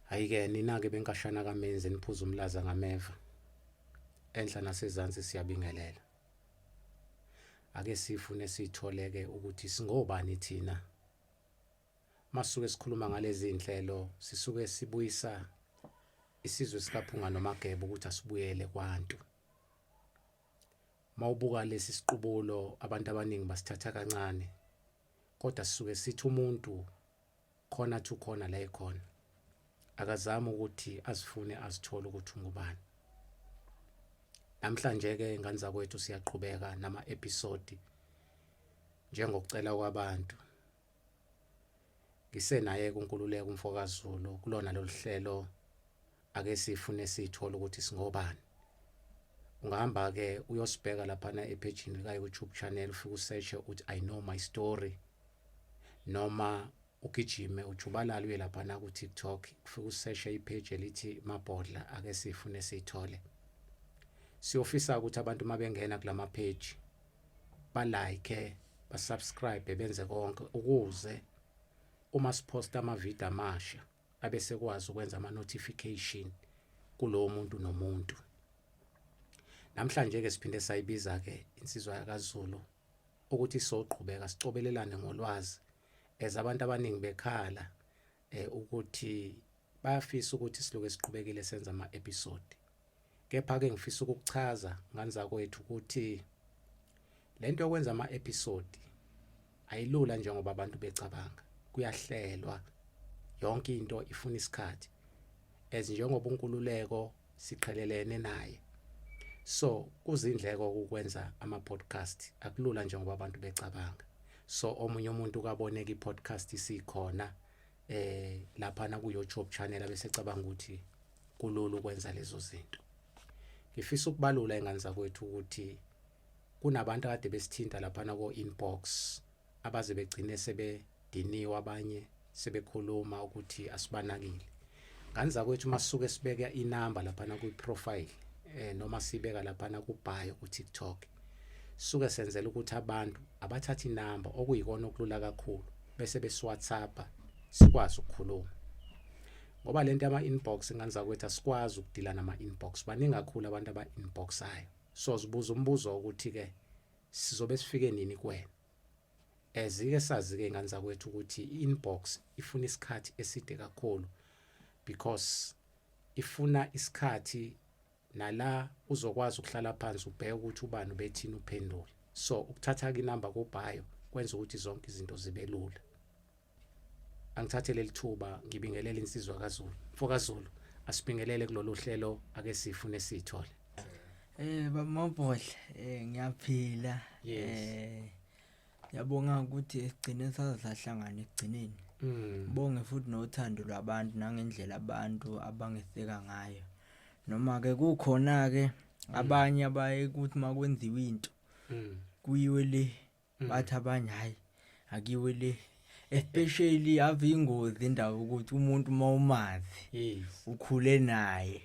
Hayike nina-ke benkashana kamenzi niphuza umlaza ngameva. Enhla nasezansi siyabingelela. Ake sifune sitholeke ukuthi singobani thina. Masuke sikhuluma ngalezi zinhlelo sisuke sibuyisa isizwe sikaphunga nomageba ukuthi asibuyele kwantu. Mawubuka lesi siqubulo abantu abaningi basithatha kancane kodwa sisuke sithi umuntu corner to corner la ekhona akazama ukuthi asifune asithole ukuthi ungubani namhlanje ke ngane zakwethu siyaqhubeka nama episode njengokucela kwabantu ngisenaye kunkululeko umfokaZulu kulona loluhlelo ake sifune sithole ukuthi singobani ungahamba ke uyosibheka lapha na epage lika YouTube channel ufike usearch uthi i know my story noma ugijime ujubalala uye laphana ku-tiktok kufike useshe ipheji elithi mabhodla ake sifune siyithole siyofisa ukuthi abantu uma bengena kula mapheji balike basubscribe benze konke ukuze uma siphosta amavidiyo amasha abesekwazi ukwenza ama notification kulowo muntu nomuntu namhlanje ke siphinde sayibiza ke insizwa yakaZulu ukuthi soqhubeka sicobelelane ngolwazi as abantu abaningi bekhala eh ukuthi bayafisa ukuthi siloke siqhubekile senza ama episode Kepha ke ngifisa ukukuchaza ngani zakwethu ukuthi lento yokwenza ama episode ayilula njengoba abantu becabanga kuyahlelwa yonke into ifuna isikhathi as njengoba unkululeko siqhelelene naye so kuzindleko ukwenza ama podcast akulula njengoba abantu becabanga so omunye umuntu kaboneka i podcast isikhona eh lapha na ku YouTube channel abesecabanga ukuthi kulula ukwenza lezo zinto ngifisa ukubalula ingane zakwethu ukuthi kunabantu akade besithinta lapha na ko inbox abaze begcine sebediniwe abanye sebekhuluma ukuthi asibanakile ngane zakwethu masuke sibeke inamba lapha na ku profile eh noma sibeka lapha na ku bio ku TikTok suke senzela ukuthi abantu abathathe inamba okuyikona okulula kakhulu bese besiwhatsappa sikwazi ukukhuluma ngoba le nto yama-inbox nganiza kwethu asikwazi ukudila nama-inbox baningi kakhulu abantu aba-inboxayo so zibuza umbuzo wokuthi-ke sizobe sifike nini kuwena ezike sazi-ke ngane zakwethu ukuthi i-inbox ifuna isikhathi eside kakhulu because ifuna isikhathi nala uzokwazi ukuhlala phansi ubheke ukuthi ubani ubethini uphendule so ukuthatha inamba kobhayo kwenza ukuthi zonke izinto zibe lula angithathe leli thuba ngibingelele insizwa kaZulu mfo kaZulu asibingelele kulolu hlelo ake sifune sithole eh bamabhodla eh ngiyaphila eh Yabonga ukuthi egcine sazahlangana egcineni. Mm. Bonge futhi nothando lwabantu nangendlela abantu abangeseka ngayo. Noma ke kukhona ke mm. abanye abaye ukuthi makwenziwa into. Mm. Kuyiwe le mm. bathi abanye hayi akiwe le especially ave ingozi indaba ukuthi umuntu uma umazi ukhule naye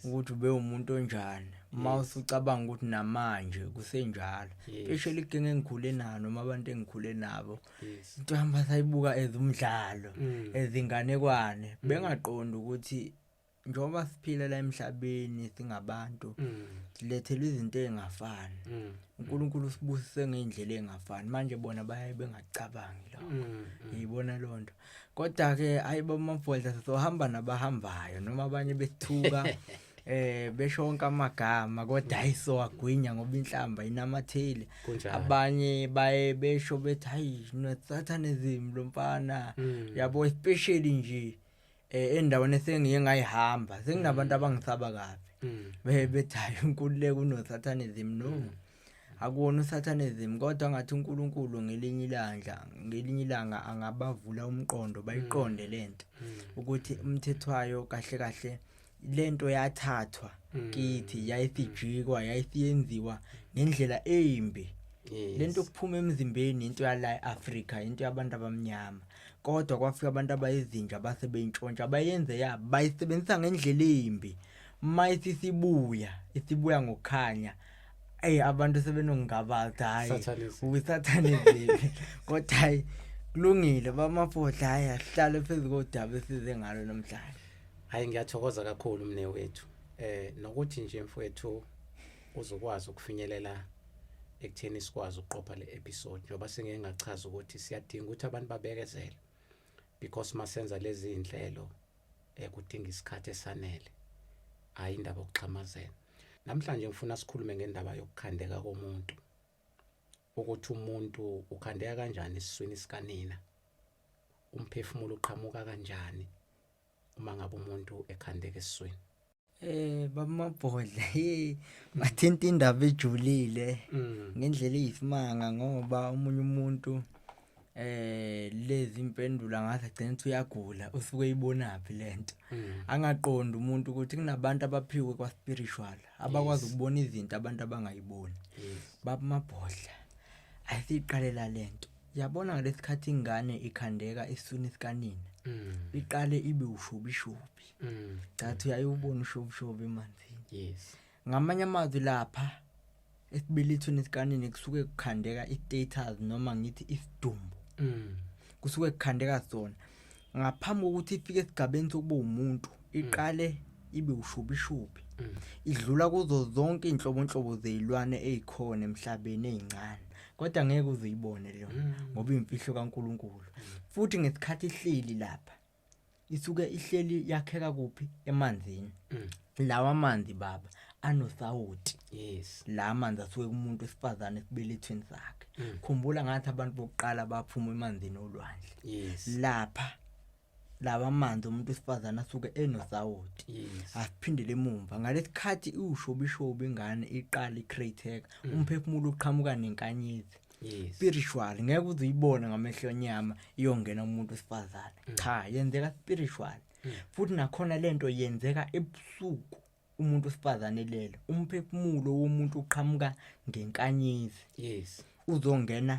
ukuthi ube umuntu onjani uma usucabanga ukuthi namanje kusenjalo especially igenge engikhule nalo noma abantu engikhule nabo into hamba sayibuka ezumdlalo mm. ezinganekwane mm. bengaqondi ukuthi njengoba siphila la emhlabeni singabantu mm. silethelwa izinto ezingafani mm. uNkulunkulu usibusise ngeindlela ezingafani manje bona baye bengacabangi lokho mm, yibona lonto kodwa ke ayibo mabhodla sohamba nabahambayo noma abanye bethuka eh beshonka amagama kodwa ayiso agwinya ngoba inhlamba inamathile abanye baye besho bethi hayi nosathane zimi lomfana yabo especially nje mm. eh endaweni esengiye ngayihamba senginabantu mm. abangisaba kabi mm. be bethayo inkululeko unosatanism no mm. akuwona usatanism kodwa ngathi uNkulunkulu ngelinye ilanga ngelinye ilanga angabavula umqondo bayiqonde lento ukuthi umthethwayo kahle kahle lento yathathwa mm. kithi yayithijikwa yayithiyenziwa ngendlela embi lento kuphuma emzimbeni into yala Africa into yabantu abamnyama kodwa kwafika abantu abayizinja base beyintshontsha bayenze ya bayisebenzisa ngendlela embi mayithi sibuya isibuya ngokukhanya ey abantu sebenongabaza hayi usathaniziwe kodwa hayi kulungile bamafodla hayi ahlale phezu kodaba esize ngalo namhlanje Hayi ngiyathokoza kakhulu mne wethu. Eh nokuthi nje mfowethu uzokwazi ukufinyelela ekutheni sikwazi ukuqopha le episode njengoba singeke ngachaza ukuthi siyadinga ukuthi abantu babekezele because masenza lezi zinhlelo ekudinga eh, isikhathi esanele hayi indaba yokuxhamazela namhlanje ngifuna sikhulume ngendaba yokukhandeka komuntu ukuthi umuntu ukhandeka kanjani esiswini sikanina umphefumulo uqhamuka kanjani uma ngabe umuntu ekhandeka esiswini eh bamabhodla hey bathinta indaba ejulile mm. ngendlela eyisimanga ngoba umunye umuntu eh lezi impendulo angathi agcina ukuthi uyagula usuke eyibonaphi lento mm. angaqondi umuntu ukuthi kunabantu abaphiwe kwa spiritual abakwazi ukubona izinto abantu abangayiboni babamabhodla ayisiqalela lento yabona ngalesikhathi ingane ikhandeka isuni sikanina mm. iqale ibe ushobishobi mm. cathi uyayubona ushobishobi emanzini yes ngamanye amazwi lapha esibelethweni sikanina kusuke kukhandeka i-status noma ngithi isidumbu mm. kusuke kukhandeka sona ngaphambi kokuthi ifike esigabeni sokuba umuntu iqale ibe ushubishubi idlula kuzo zonke inhlobonhlobo zezilwane ezikhona emhlabeni ezincane kodwa ngeke uzuyibone leyo mm. ngoba imfihlo kaNkuluNkulu futhi ngesikhathi ihleli lapha isuke ihleli yakheka kuphi emanzini mm. lawa manzi baba anosawoti yes la manzi asuke kumuntu esifazane esibelethweni sakhe mm. khumbula ngathi abantu bokuqala baphuma emanzini olwandle yes lapha lawa manzi umuntu esifazana asuke enosawoti yes. asiphindele emumva ngalesikhathi iwushobishobi ingane iqala icrateka mm. umphefumulo uqhamuka nenkanyezi yes. spiritual ngeke uzuyibone ngamehlo enyama iyongena umuntu wesifazane mm. cha yenzeka spiritual hmm. futhi nakhona lento yenzeka ebusuku umuntu osifazane lele umphefumulo womuntu uqhamuka ngenkanyezi yes uzongena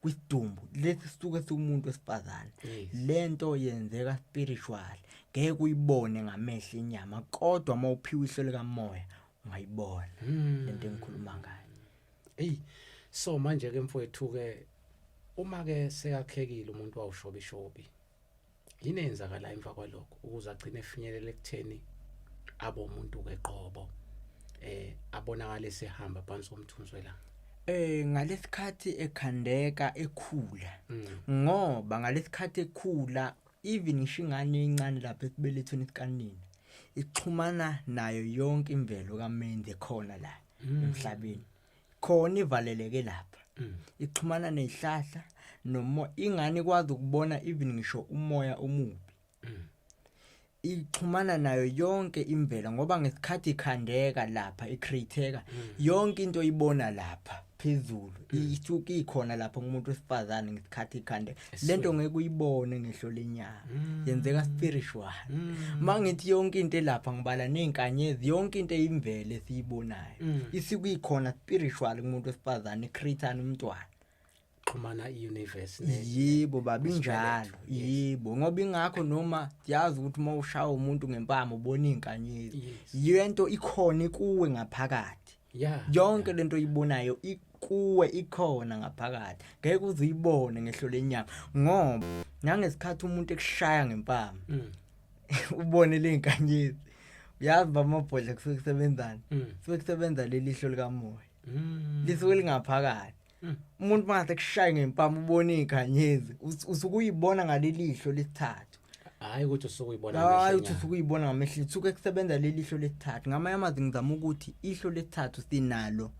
kwisidumbu lesi sisuke siwumuntu wesifazane lento yenzeka spiritual ngeke uyibone ngamehlo inyama kodwa uma uphiwa ihlo likamoya ungayibona hmm. lento engikhuluma ngayo hey so manje ke mfowethu ke uma ke seyakhekile umuntu wawushobishobi yini eyenzakala emva kwalokho ukuze agcine efinyelele ekutheni abe umuntu-ke qobo eh abonakale sehamba phansi komthunzi welanga eh ngalesikhathi ekhandeka ekhula mm. ngoba ngalesikhathi ekhula even ngisho ingane encane lapha esibelethweni sikanini ixhumana nayo yonke imvelo kaMendi khona la mm. emhlabeni khona ivaleleke lapha mm. ixhumana nezihlahla noma ingane ikwazi ukubona even ngisho umoya omubi mm. ixhumana nayo yonke imvelo ngoba ngesikhathi ikhandeka lapha icreateka mm. yonke into oyibona lapha phezulu isuke ikhona lapha kumuntu wesifazane ngesikhathi ikhandeka lento ngeke uyibone ngehlo lenyanga mm. yenzeka spiritual mm. mangithi yonke into elapha ngibala nezinkanyezi yonke into eyimvele siyibonayo mm. isikuyikhona spiritual kumuntu wesifazane creator umntwana xhumana iuniverse yebo baba injalo yebo ngoba ingakho noma yazi ukuthi uma ushaya umuntu ngempama ubona izinkanyezi yento ikhona kuwe ngaphakathi yeah yonke yeah. lento oyibonayo ikuwe ikhona ngaphakathi ngeke uze uyibone ngehlo lenyama ngoba nangesikhathi umuntu ekushaya ngempama mm. ubone lezinkanyezi uyazi bamabhodla kusuke kusebenzana mm. kusuke kusebenza lelihlo likamoya mm. lisuke lingaphakathi hmm. umuntu mase kushaye ngempama ubona iganyezi usukuyibona ngalelihlo lesithathu hayi ukuthi usukuyibona hayi ukuthi usukuyibona ngamehlo usuke kusebenza lelihlo lesithathu ngamanye amazi ngizama ukuthi ihlo lesithathu sinalo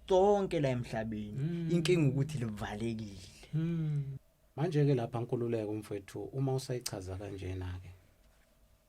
sonke la emhlabeni hmm. inkinga ukuthi livalekile hmm. manje ke lapha nkululeko mfethu uma usayichaza kanjena ke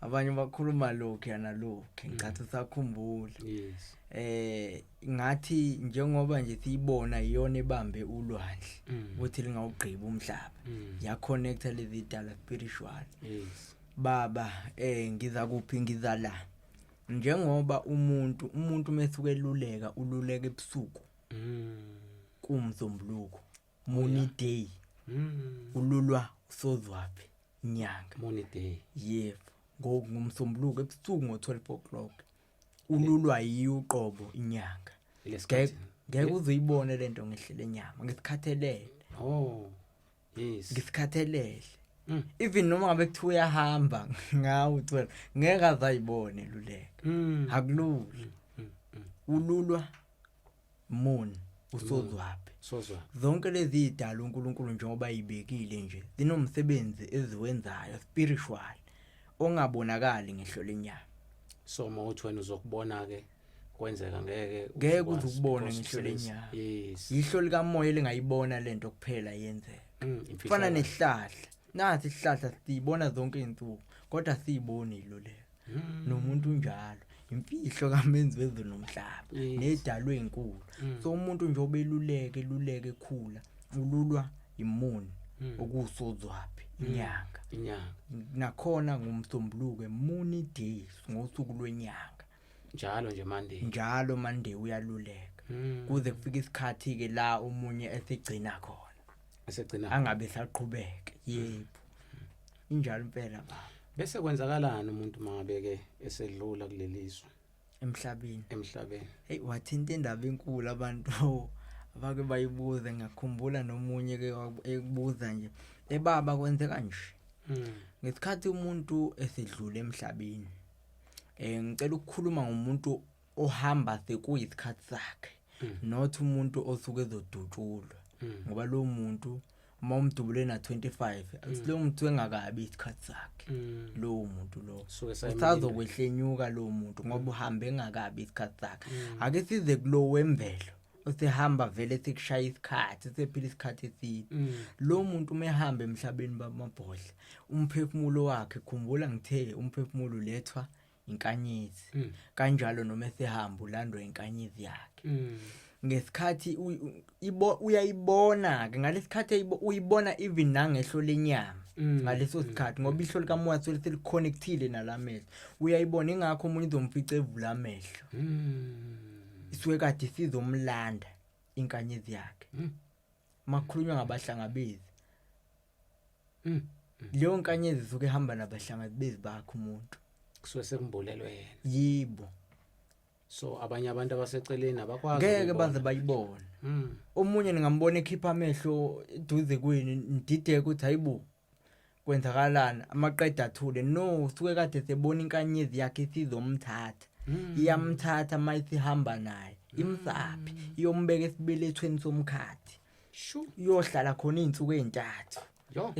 abanye bakhuluma lokhu yana lokhu mm. ngicatha sakhumbula yes eh ngathi njengoba nje siyibona iyona ebambe ulwandle mm. ukuthi lingawugqiba umhlaba mm. ya connect lezi dala spiritual yes baba eh ngiza kuphi ngiza la njengoba umuntu umuntu mesuke eluleka ululeka ebusuku mm kumzombuluko Muni Day Mm. ululwa usozwaphi inyanga Muni Day. yebo ngo- ngomsombuluko ebusuku ngo-12 o'clock ululwa yiyo uqobo inyanga Lesikhathi. Ngeke- ngeke uzoyibone le nto ngehlele nyama ngisikhathelele Oh. Yes. ngisikhathelele Mm. even noma ngabe kuthiwa uyahamba ngawo 12 ngeke azayibone luleka Mm. akulula Mm, mm. ululwa moon usozwapi sozwa zonke lezi idala uNkulunkulu njengoba ibekile nje zinomsebenzi eziwenzayo spiritual ongabonakali ngehlo lenyama so mawuthi wena uzokubona ke kwenzeka ngeke ngeke uzukubona ngehlo lenyama yes ihlo lika moya lingayibona lento kuphela yenzeka mm, fana nehlahla nathi ihlahla siyibona zonke izinsuku kodwa siyiboni lo le hmm. nomuntu unjalo imfihlo kamenzi wezulu nomhlaba nedalwe inkulu hmm. so umuntu nje obeluleke luleke khula ululwa imuni hmm. okusozwaphi inyanga inyanga nakhona ngumsombuluko emuni days ngosuku lwenyanga njalo nje mande njalo mande uyaluleka kuze kufike isikhathi ke la omunye esigcina khona esigcina angabe saqhubeke yebo injalo impela baba bese kwenzakalani umuntu mangabeke esedlula kulelizwe emhlabeni emhlabeni hey wathinta indaba enkulu abantu abake bayibuze ngakhumbula nomunye ke ekubuza nje ebaba kwenzeka nje hmm. ngesikhathi umuntu esedlule emhlabeni eh ngicela ukukhuluma ngomuntu ohamba the kuyizikhathi zakhe mm. not umuntu osuke ezodutshulwa mm. ngoba lo muntu uma umdubule na 25 mm. lo muntu engakabi isikhathi sakhe mm. lo muntu lo usazokwehlenyuka lo muntu ngoba uhambe engakabi isikhathi sakhe mm. ake size kulo wemvelo usehamba vele sekushaya isikhathi sephila isikhathi eside mm. lo muntu uma ehamba emhlabeni bamabhodla umphefumulo wakhe khumbula ngithe umphefumulo ulethwa inkanyezi mm. kanjalo noma esehamba ulandwa inkanyezi yakhe mm. ngesikhathi uyayibona ke ngalesikhathi uyibona even nangehlo lenyama mm. ngaleso sikhathi ngoba ihlo likamoya sele seliconnectile nalamehlo uyayibona ingakho umuntu izomfica evula amehlo isuke kade sizomlanda inkanyezi yakhe makhulunywa ngabahlangabezi mm. leyo nkanyezi isuke ihamba nabahlangabezi bakhe umuntu kusuke sekumbulelwe yena yibo so abanye abantu abaseceleni abakwazi ngeke baze bayibone hmm. omunye ningambona ekhipha amehlo duze kwenu ndideke ukuthi hayibo kwenzakalani amaqeda athule no suke kade sebona inkanyezi yakhe isizomthatha hmm. iyamthatha uma isihamba naye hmm. imsaphi iyombeka esibelethweni somkhathi iyohlala khona iy'nsuku ey'ntathu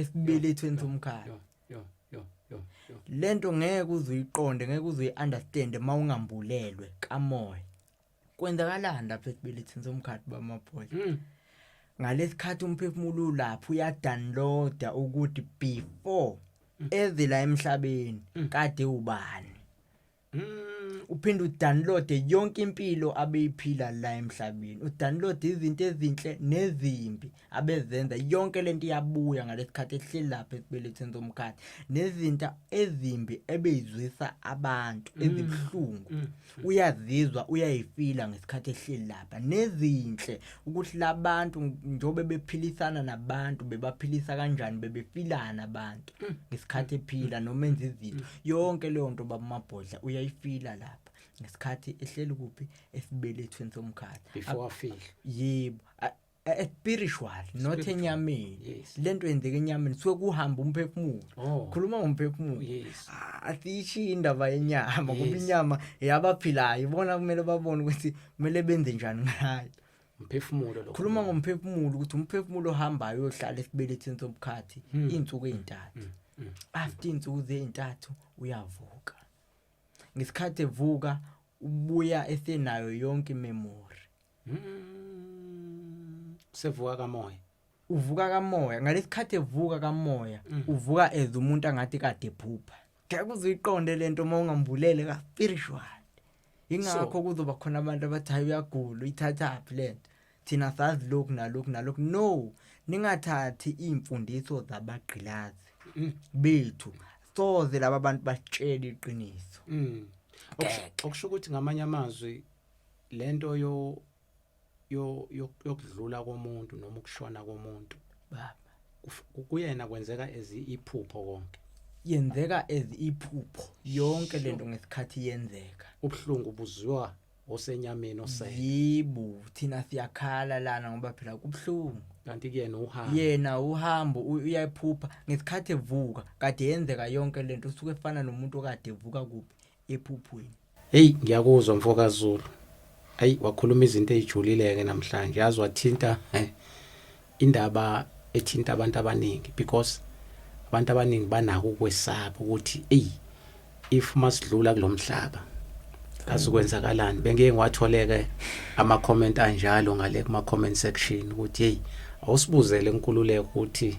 esibelethweni somkhathi lento ngeke uzuyiqonde ngeke uzuyi-understand uma ungambulelwe kamoya kwenzakalani lapha ekubelethini somkhathi bamabhola mm. ngalesikhathi umphefumulo ulapha uyadownloada ukuthi before mm. ezila emhlabeni mm. kade ubani mm. uphinde udownload yonke impilo abeyiphila la emhlabeni udownload izinto ezinhle nezimbi mm. abezenza yonke lento iyabuya ngalesikhathi ehleli lapha esibelethweni somkhathi nezinto ezimbi ebeyizwisa abantu mm. ezibuhlungu mm. uyazizwa uyayifila ngesikhathi ehleli lapha nezinhle ukuthi labantu njobe bephilisana nabantu bebaphilisa kanjani bebefilana abantu mm. ngesikhathi ephila noma enza izinto yonke leyo nto babamabhodla uyayifila lapha ngesikhathi ehleli kuphi esibelethweni somkhathi before afile yebo Eh, eh, spiritual not enyameni yes. lento yenzeka enyameni suke kuhamba umphefumulo oh. khuluma ngomphefumulo yes. asiyishiye ah, indaba yenyama yes. kuba inyama yabaphilayo ibona kumele babone ukuthi kumele benze njani ngayo umphefumulo lo khuluma ngomphefumulo ukuthi umphefumulo ohambayo ohlala esibelethini sobukhathi hmm. izinsuku ezintathu hmm. hmm. after insuku zezintathu uyavuka ngesikhathi evuka ubuya esenayo yonke imemory Mm, sevuka kamoya uvuka kamoya ngalesikhathi evuka kamoya mm. uvuka as umuntu angathi kade phupha ngeke uziqonde lento uma ungambulele ka spiritual ingakho kuzoba khona abantu abathi hayi uyagula uyithatha phi lento thina sazi lokhu nalokhu nalokhu no ningathathi iimfundiso zabagqilazi mm. bethu soze laba bantu basitshela iqiniso mm. okusho ukuthi ngamanye amazwi lento yo yokudlula komuntu noma ukushona komuntu baba kuyena kwenzeka ezi iphupho konke yenzeka ezi iphupho yonke lento ngesikhathi yenzeka ubuhlungu buzwa osenyameni osele yibu thina siyakhala lana ngoba phela kubuhlungu kanti kuyena uhamba yena uhambo uyayiphupha ngesikhathi evuka kade yenzeka yonke lento usuke efana nomuntu okade evuka kuphi ephuphweni heyi ngiyakuzwa mfokazulu ayi wakhuluma izinto ezijulile-ke namhlanje yazi wathinta eh, indaba ethinta abantu abaningi because abantu abaningi banako ukwesaba ukuthi eyi if masidlula kulo mhlaba azikwenzakalani bengeke ngiwatholeke ama-comment anjalo ngale kuma-comment section ukuthi heyi awusibuzele nkululeko ukuthi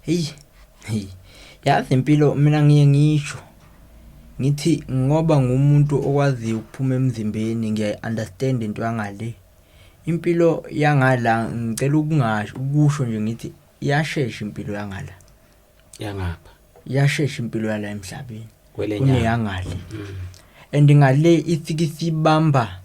Hey, hey. Yazi impilo mina ngiye ngisho ngithi ngoba ngumuntu okwaziyo ukuphuma emzimbeni ngiyayi-understand into yangale. Impilo yangala ngicela ukungasho ukusho nje ngithi iyashesha impilo yangala. Yangapha. Iyashesha impilo yala emhlabeni. Kuneyangale. Mm. And ngale ifike isibamba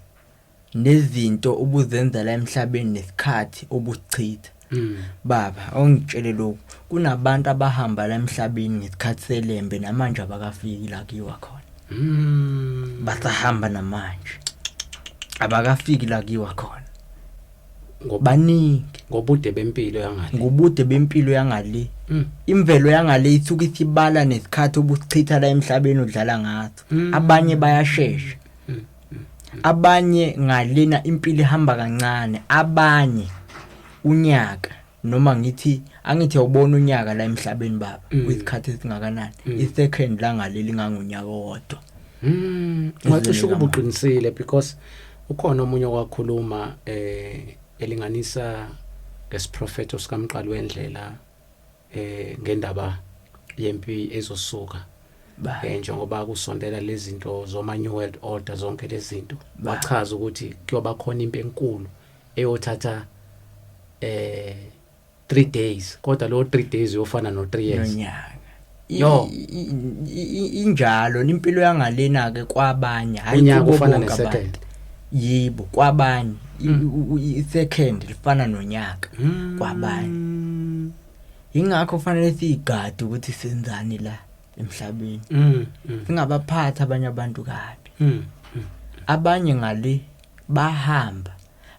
nezinto ubuzenza la emhlabeni nesikhathi ubusichitha mm. baba awungitshele lokhu kunabantu abahamba la emhlabeni ngesikhathi selembe namanje abakafiki la kuyiwa khona mm. basahamba namanje abakafiki la kuyiwa khona ngobaningi ngobude bempilo yangale ngobude bempilo yangale mm. imvelo yangale ithuka isibala nesikhathi obusichitha la emhlabeni udlala ngaso mm. abanye bayashesha abanye ngalena impilo ihamba kancane abanye unyaka noma ngithi angithi awubona unyaka la emhlabeni baba mm. uyikhathi esingakanani mm. i second la ngaleli ngangonyaka wodwa mm. ngacisha ukubuqinisile because ukhona omunye okwakhuluma eh elinganisa ngesiprofeto sikamqali wendlela eh ngendaba yempi ezosuka eh njengoba kusondela lezinto zoma new world order zonke lezinto bachaza ukuthi kuyoba khona impi enkulu eyothatha eh 3 days kodwa lo 3 days uyofana no 3 years nonyaka yo injalo impilo yangalena ke kwabanye hayi kubo bonke abantu yibo kwabanye i-second lifana nonyaka hmm. kwabanye yingakho kufanele siyigade ukuthi senzani la emhlabeni hmm, hmm. singabaphathi abanye abantu kabi abanye ngale bahamba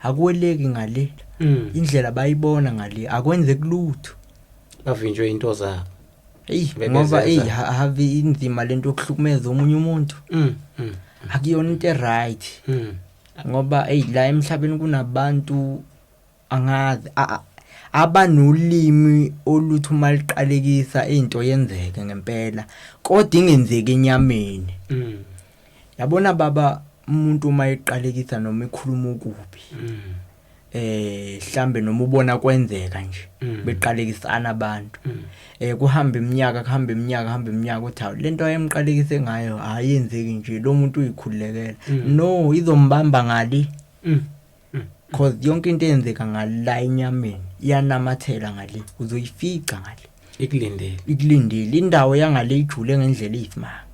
akweleki ngale indlela bayibona ngale akwenze kulutho bavinjwe into zabo eyi ngoba eyi have inzima lento yokuhlukumeza omunye umuntu mm, mm, akuyona into eright mm. ngoba eyi la emhlabeni kunabantu angazi abanolimi oluthi uma liqalekisa into yenzeke ngempela kodwa ingenzeki enyameni mm. yabona baba umuntu uma eqalekisa noma ekhuluma okubi mm. eh hlambe noma ubona kwenzeka nje mm. beqalekisana abantu mm. eh kuhamba iminyaka kuhamba iminyaka kuhamba iminyaka uthi hawu lento ayemqalekise ngayo ayenzeki nje lo muntu uyikhulekela mm. no izombamba ngali cause yonke into eyenzeka ngala enyameni iyanamathela ngale uzoyifica ngale ikulindile ikulindile indawo yangale ijule ngendlela iyisimanga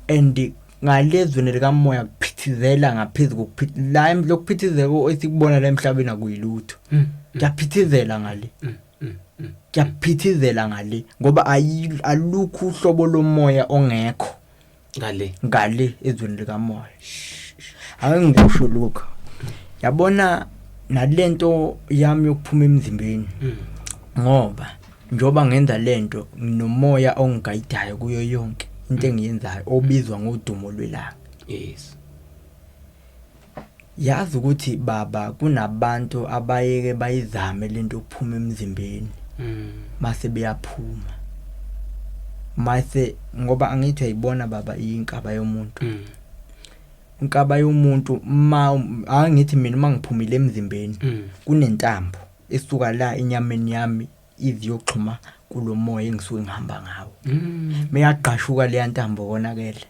and ngalezweni likamoya kuphithizela ngaphezulu kokuphithizela la lokuphithizela esikubona la emhlabeni akuyilutho mm, mm. kuyaphithizela ngale mm, kuyaphithizela ngale ngoba alukho uhlobo lomoya ongekho ngale ngale ezweni likamoya ake ngikusho lokho yabona nalento yami yokuphuma emzimbeni mm. ngoba njoba ngenza lento nginomoya ongigayidayo kuyo yonke into mm. engiyenzayo obizwa ngodumo lwelanga yes Yazi ukuthi baba kunabantu abayeke bayizame lento yokuphuma emzimbeni. Mm. Mase beyaphuma. Mase ngoba angithi ayibona baba inkaba yomuntu. Mm. Inkaba yomuntu ma angithi mina uma ngiphumile emzimbeni mm. kunentambo esuka la enyameni yami iziyoxhuma kulomoya engisuke ngihamba ngawo. Mm. Meyagqashuka leya ntambo konakele.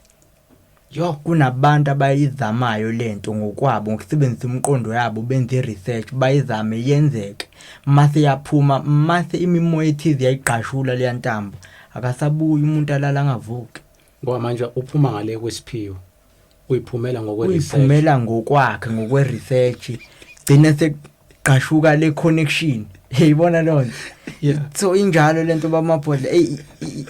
Yho kunabantu abayizamayo lento ngokwabo ngokusebenzisa umqondo yabo benze i-research bayizame yenzeke mase yaphuma mase imimoya ethize yayigqashula leya ntambo akasabuyi umuntu alala angavuki ngoba manje uphuma ngale kwesiphiwo uyiphumela ngokwe-research uyiphumela ngokwakhe ngokwe-research gcine gqashuka le connection yayibona lonto yeah so injalo lento bamabhodla ey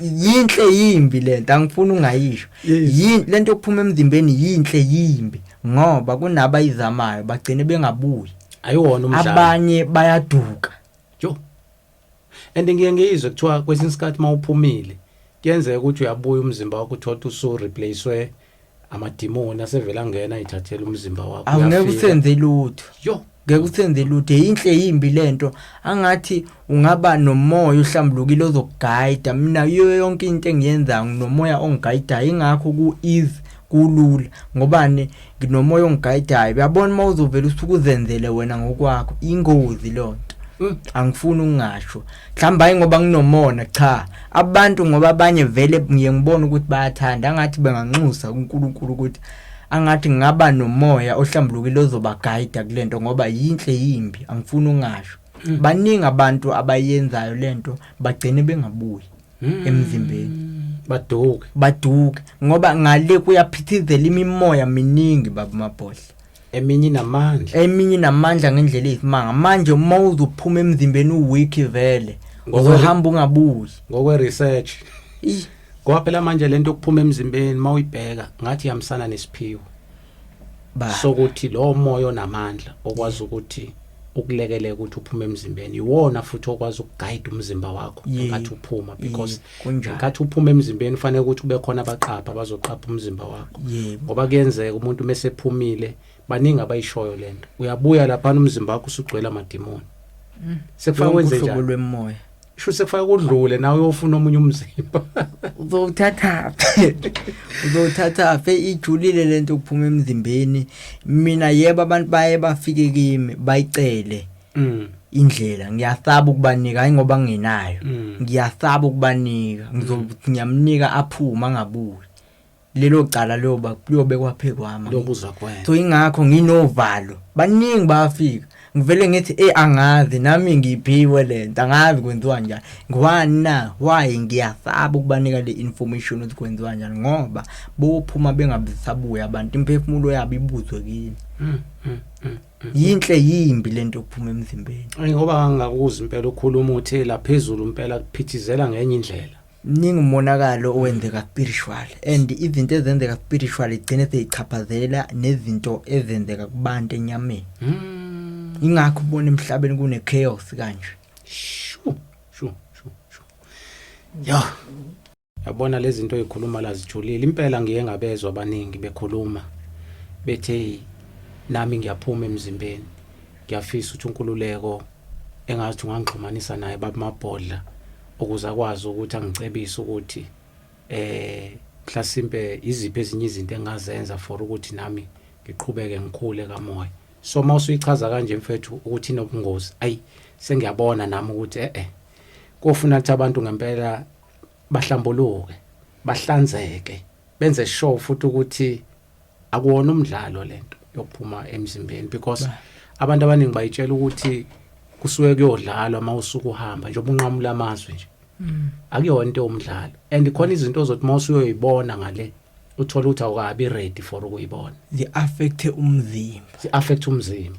yinhle yimbi lento angifuni ungayisho yini lento okuphuma emzimbeni yinhle yimbi ngoba kunaba izamayo bagcine bengabuyi ayiwona umdlalo abanye bayaduka jo And ngiye ngiyizwe kuthiwa kwesinye isikhathi uma uphumile kuyenzeka ukuthi uyabuya umzimba wakho uthole ukuthi usu-replacewe amadimoni asevele angena ayithathele umzimba wakho awungeke uyafika. usenze lutho yo ngeke usenze lutho yinhle yimbi lento angathi ungaba nomoya uhlambulukile ozokugayida mina yiyo yonke into engiyenzayo nginomoya ongigayidayo ingakho ku-ease kulula ngobani nginomoya ongigayidayo uyabona uma uzovela usuke uzenzele wena ngokwakho ingozi loo nto mm. angifuni ukungasho mhlawumbe hayi ngoba nginomona cha abantu ngoba abanye vele ngiye ngibone ukuthi bayathanda angathi benganxusa kuNkulunkulu ukuthi angathi ngaba nomoya ohlambulukile ozobagayida kule nto ngoba yinhle yimbi angifuni ukungasho mm. baningi abantu abayenzayo le nto bagcine bengabuyi mm. emzimbeni baduke baduke ngoba ngale kuyaphithizela imimoya miningi baba mabhodla eminye namandla eminye namandla ngendlela eyisimanga manje uma uzophuma emzimbeni uweek vele uzohamba ungabuyi ngokwe research kwaphela manje lento okuphuma emzimbeni mawuyibheka ngathi yamsana nesiphiwo ba sokuthi lo moya onamandla okwazi ukuthi ukulekeleka ukuthi uphume emzimbeni iwona futhi okwazi ukuguide umzimba wakho Ye- ngathi uphuma ye, because kunjalo. ngathi uphuma emzimbeni fanele ukuthi ube khona abaqapha bazoqapha umzimba wakho Yebo. ngoba kuyenzeka umuntu mesephumile baningi abayishoyo lento uyabuya lapha umzimba wakho usugcwele amadimoni sekufana Lonke kwenze uhlobo njani lwemoya sho sekufaka kudlule nawe uyofuna omunye umzimba uzowuthatha uzowuthatha fe ijulile lento ukuphuma emzimbeni mina yebo abantu baye bafike kimi bayicele mm. indlela ngiyasaba ukubanika hayi ngoba nginayo mm. ngiyasaba ukubanika ngizomnika aphuma ngabuye lelo cala liyoba liyobekwa phe kwami lokuzwa kwena so ingakho nginovalo baningi bafika ngivele ngithi eh angazi nami ngiphiwe lento angazi kwenziwa njani ngwana why ngiyasaba ukubanika le information ukuthi kwenziwa kanjani ngoba bophuma bengabisabuya abantu imphefumulo yabo ibuzwe kini mm, mm, mm, yinhle yimbi lento okuphuma emzimbeni ngoba ngangakuzwa impela ukhuluma uthi laphezulu impela kuphithizela ngenye indlela mningi umonakalo owenzeka spiritual and izinto ezenzeka spiritual igcine seyichaphazela nezinto ezenzeka kubantu enyameni mm. ingakho ubona emhlabeni kune chaos kanje shu shu shu shu yo yabona lezi zinto ezikhuluma la zijulile impela ngiye ngabezwa abaningi bekhuluma bethe nami ngiyaphuma emzimbeni ngiyafisa ukuthi unkululeko engazi ungangixhumanisa naye babamabhodla ukuze akwazi ukuthi angicebise ukuthi eh mhlasimpe iziphi ezinye izinto engazenza for ukuthi nami ngiqhubeke ngikhule kamoya so uma usuyichaza kanje mfethu ukuthi inobungozi ayi sengiyabona nami ukuthi eh eh kofuna ukuthi abantu ngempela bahlambuluke bahlanzeke benze sure futhi ukuthi akuwona umdlalo lento yokuphuma emzimbeni because abantu abaningi bayitshela ukuthi kusuke kuyodlalwa uma usuke uhamba nje ubunqamula amazwi nje mm. akuyona into yomdlalo and khona izinto ozothi uma usuyoyibona ngale uthola ukuthi awukabi ready for ukuyibona zi affect umzimba zi affect umzimba